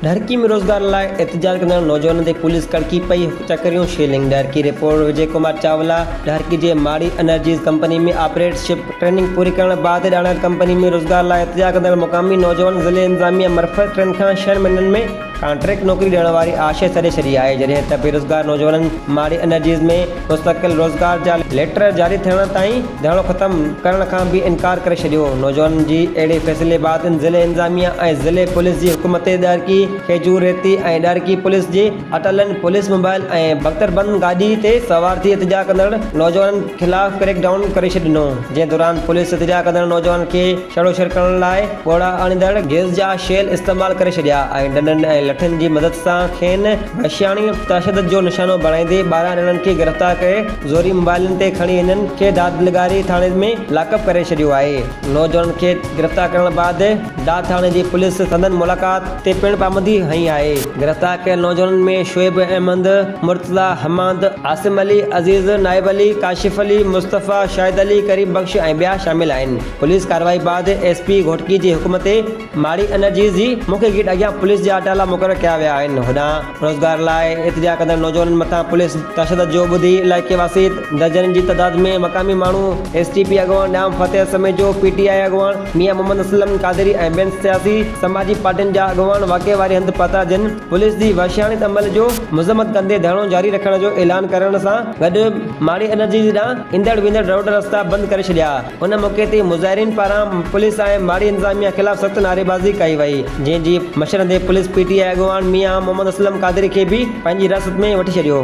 ڏھرڪي ۾ روزگار لاء احتجاج ڪندڙ نوجوانن تي پوليس ڪڙڪي پئي، چڪريون شيلنگ ڏھرڪي، رپورٽ، وجي ڪمار چاولا، ڏھرڪي جي Mari energies company ۾ operatorship training پوري ڪرڻ بعد ڄاڻايل ڪمپني ۾ روزگار لاء احتجاج ڪندڙ مقامي نوجوانن ضلعي انتظاميا مرفت ٽن کان ڇهن مھينن ۾ ڪانٽريڪٽ نوڪري ڏيڻ واري آش ئي سڏي ڇڏي آهي جڏهن ته بيروزگار نوجوانن ماري انرجيز ۾ مستقل روزگار جا ليٽر جاري ٿيڻ تائين ڌرڻو ختم ڪرڻ کان به انڪار ڪري ڇڏيو نوجوانن جي اهڙي فيصلي بعد ضلعي انتظاميا ۽ ضلعي پوليس جي حڪم تي ڏهرڪي کيجور ريتي ۽ ڏهرڪي پوليس جي اٽلن پوليس موبائل ۽ بڪتربند گاڏي تي سوار ٿي احتجاج ڪندڙ نوجوانن خلاف ڪريڪ ڊائون ڪري ڇڏنو جنهن دوران پوليس احتجاج ڪندڙ نوجوانن کي ڇڙوڇڙ ڪرڻ لاء ڳوڙها آڻيندڙ گيس جا شيل استعمال ڪري ڇڏيا ۽ ڏنڊن ۽ لٺن جي مدد سان کين وحشياڻي تشدد جو نشانو بڻائيندي ٻارهن ڄڻن کي گرفتار ڪري زوري موبائلن تي کڻي انهن کي داد نگاري ٿاڻي ۾ لاڪ اپ ڪري ڇڏيو آهي نوجوانن کي گرفتار ڪرڻ بعد داد ٿاڻي جي پوليس سندن ملاقات تي پڻ پابندي هنئي آهي گرفتار ڪيل نوجوانن ۾ شعيب احمد مرتضيٰ حماد عاصم علي عزيز نائب علي ڪاشف علي مصطفيٰ شاهد علي قريب بخش ۽ ٻيا شامل آهن. پوليس ڪارروائي بعد ايس پي گهوٽڪي جي حڪم تي ماري انرجيز جي مکيه گيٽ اڳيان پوليس جا اٽالا مقرر ڪيا ويا آهن هوڏانهن روزگار لاء ارتجاع ڪندڙ نوجوانن مٿان پوليس تشدد جو ٻڌي علائقي واسي درجنن جي تعداد ۾ مقامي ماڻهو ايس ٽي پي اڳواڻ ڏام فتح سميجو پي ٽي آء اڳواڻ ميان محمد اسلم قادري ۽ ٻين سياسي سماجي پارٽين جا اڳواڻ واقعي واري هنڌ پهتا جن پوليس جي وحشياڻي عمل جو مذمت ڪندي ڌرڻو جاري رکڻ جو اعلان ڪرڻ سان گڏ ماري انرجيز ڏانهن ايندڙ ويندڙ روڊ رستا بند ڪري ڇڏيا ان موقعي تي مظاهرين پاران پوليس ۽ ماڙي انتظاميا خلاف سخت نعريبازي ڪئي وئي جنهن جي مشرندي پوليس پي ٽي آء اڳواڻ ميان محمد اسلم قادري کي به پنهنجي حراست ۾ وٺي ڇڏيو